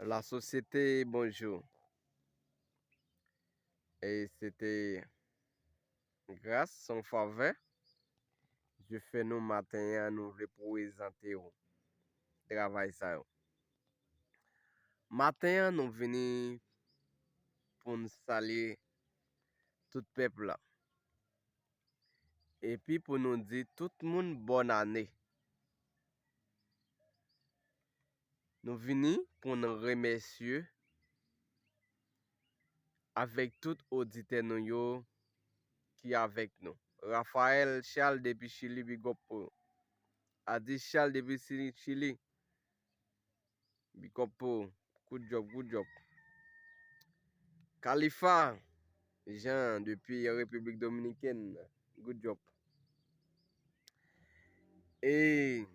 La sosyete bonjou. E se te gras son favè je fè nou maten ya nou vle pwezante ou travay sa yo. Maten ya nou vini pou n salye tout pèp la. Epi pou nou di tout moun bòn ane. Nou vini pou nou remèsye avèk tout oditè nou yo ki avèk nou. Raphaël Charles depi Chili big up pou nou. Adis Charles depi Chili. Big up pou ou. Good job, good job. Khalifa Jean depi République Dominicaine. Good job. Et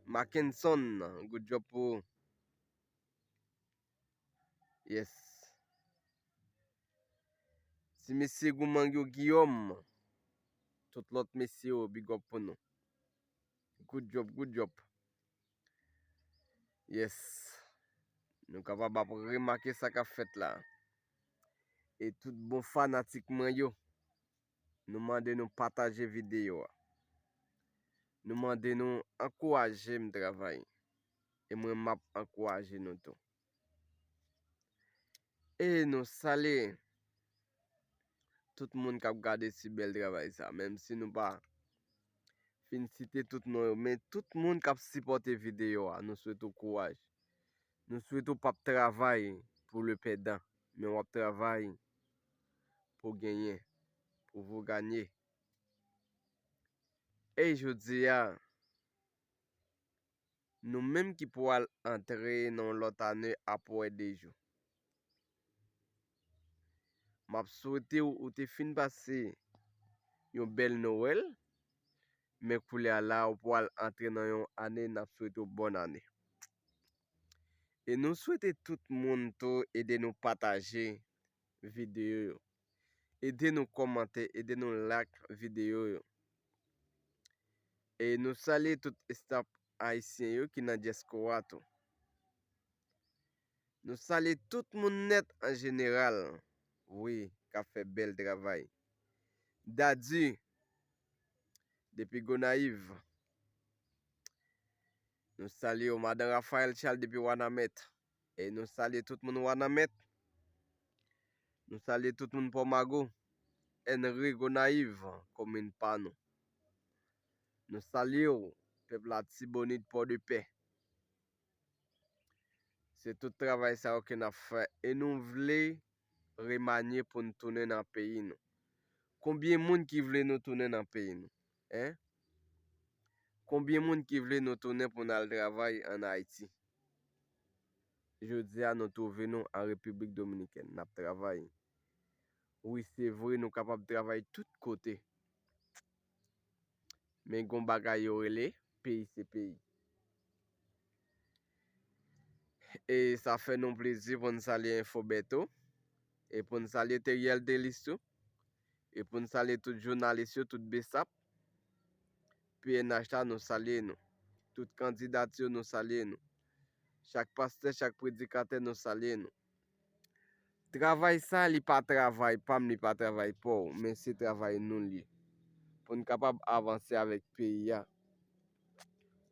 Mackenson, good job pou ou. Yes. Ti mesye Gouman yo Guillaume. Tout lot mesye yo, big up pou nou. Good job, good job. Yes. Nou kapab ap remake sa kap fèt la. E tout bon fanatik mwen yo. Nou mande nou pataje videyo a. Nou mande nou ankouraje m travay. E mwen map ankouraje nou tou. E nou sale tout moun kap gade si bèl travay sa. Menm si nou pa fin site tout nou yo. Men tout moun kap sipote videyo a. Nou swet ou kouwaj. Nou swet ou pap travay pou le pèdan. Men wap travay pou genyen. Pou vou ganye. E jodi a. Nou menm ki pou al antre nan yon lòt ane ap wè de jou. M ap swete w ou te fin pase yon bèl Nowèl, men koulè a la ou pou al antre nan yon ane n ap swete w bòn ane. E nou swete tout moun tou ede nou pataje videyo yo. Ede nou komante, ede nou lak videyo yo. E nou salye tout estap ayisyen yo ki nan dyeskora tou. Nou salye tout moun net an jeneral. Wi, ka fe bel travay. Dadi, depi Gonayiv. Nou salye yo, madan Rafael Chal depi Wanamèt. E nou salye tout moun wanament. Nou salye tout moun pò mago. Enri gonayiv komin pa nou. Nou salye ou pèp la tibonit pò de pè. Se tout travay sa ou ke nap fè. E nou vle remanye pou nou tounen nan peyi nou. Konbyen moun ki vle nou tounen nan peyi nou. Hein? Konbyen moun ki vle nou tounen pou nal travay an Haiti? Jodia nou trouve nou an République Dominicaine nap travay. Wi se vre nou kapab travay tout kote. Men gon bagay yo rele peyi se peyi. E sa fè nou plezi poun salye Infobeto. E poun salye Theriel Delis tou. E pou n salye tout jounalis yo, tout besap, pnh la nou salye nou. Tout kandidat yo nou salye nou. Chak pastè, chak predikatè nou salye nou. Travay sa li pa travay pa m, li pa travay pa w, men se travay nou li. Pou n kapab avanse avèk peyi a.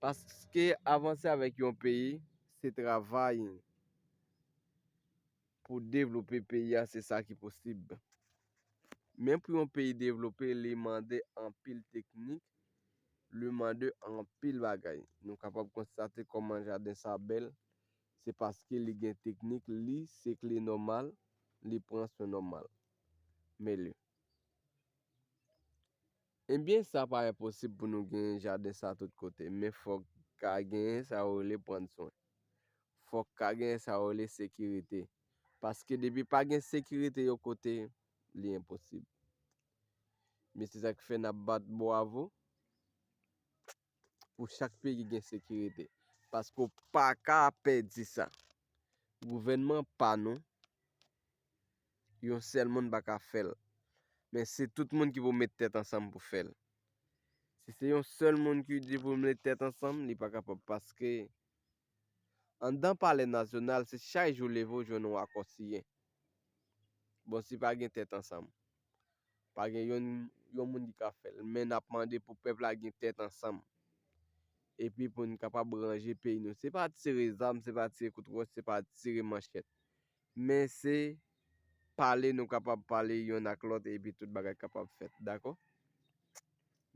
Paske avanse avèk yon peyi, se travay. Pou devlope peyi a se sa ki posib. Men pou yon peyi devlope li mande anpil teknik, li mande anpil bagay. Nou kapab konstate kòman jaden sa bèl, se paske li gen teknik, li se kle nòmal, li pran swen nòmal. Mele. Ebyen sa pa enposib pou nou genyen jaden sa tout kote men fòk ka genyen sa yo rele pran swen. Fòk ka genyen sa yo rele sekirite. Paske depi pa gen sekirite yon kote li enposib. Men se sa ki fè n ap bat bwavo. pou chak peyi gen sekirite. Paske w pa ka pèdi sa. Gouvènman pa nou, yon sèl moun pa ka fè l. Men se tout moun ki pou met tèt ansanm pou fè l. Si se yon sèl moun ki di pou met tèt ansanm, li pa kapab. Paske Anndan palè nasyonal se chak jou leve ou jwenn yon akò siyen. Bon si pa gen tèt ansanm. Pa gen yon yon moun ki ka fèl. Men nap mande pou pèp la gen tèt ansanm. Epi pou n kapab ranje peyi nou. Se pa tire zam, se pa tire kout wòch, se pa tire manchèt. Men se pale nou kapab pale yonn ak lòt epi tout bagay kapab fèt. Dakò?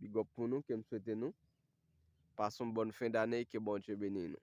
Bigòp pou nou ke m swete nou. Pase yon bòn fen dane e ke Bondye beni nou.